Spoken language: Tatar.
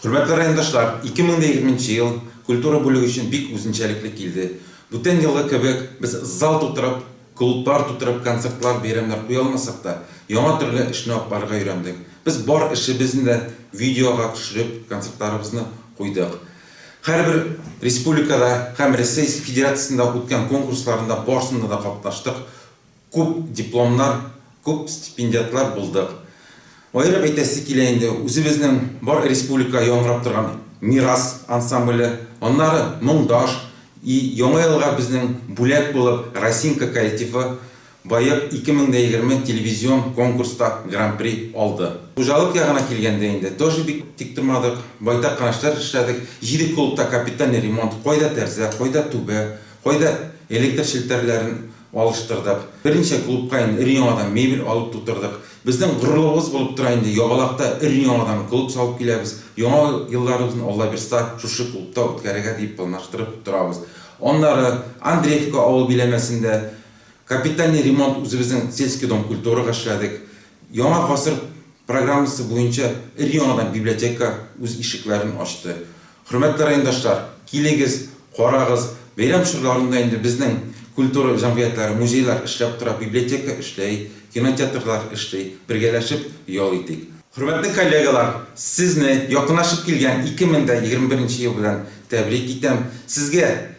Хөрмәтле райондашлар, 2020 нче ел культура бүлеге өчен бик үзенчәлекле килде. Бүтән елгы кебек без зал тутырып, клублар тутырып концертлар, бәйрәмнәр куя алмасак та, яңа төрле эшне атларга өйрәндек. Без бар эшебезне дә видеога төшереп, концертларыбызны куйдык. Һәрбер республикада һәм Рәсәй Федерациясендә үткән конкурсларында барсында да катнаштык, күп дипломнар, күп стипендиатлар булдык. Аерып әйтәсе килә инде, үзебезнең бар республика яңгырап торган Мирас ансамбле, аннары Моңдаш, и Яңа елга безнең бүләк булып Росинка коллективы, Боек 2020 телевизион конкурста гран-при алды. Хуҗалык ягына килгәндә инде, тоже бик тик тормадык, байтак кына эшләр эшләдек. Җиде клубта капитальный ремонт, кайда тәрзә, кайда түбә, кайда электр челтәрләрен алыштырдык. Берничә клубка инде өр-яңадан мебель алып тутырдык. Безнең горурлыгыбыз булып тора инде, Ябалакта өр-яңадан клуб салып киләбез. Яңа елларыбызны Аллабирса шушы клубта үткәрергә дип планлаштырып торабыз. Аннары Андреевка авыл биләмәсендә, Капитальный ремонт үзебезнең Сельский дом культурага эшләдек. Яңа гасыр программасы буенча өр-яңадан библиотека үз ишекләрен ачты. Хөрмәтле райондашлар, килегез, карагыз, бәйрәм чорларында инде безнең культура җәмгыятьләре, музейлар эшләп тора, библиотека эшләй, кинотеатрлар эшли, бергәләшеп ял итик. Хөрмәтле коллегалар, сезне якынлашып килгән 2021 нче ел белән тәбрик итәм. Сезгә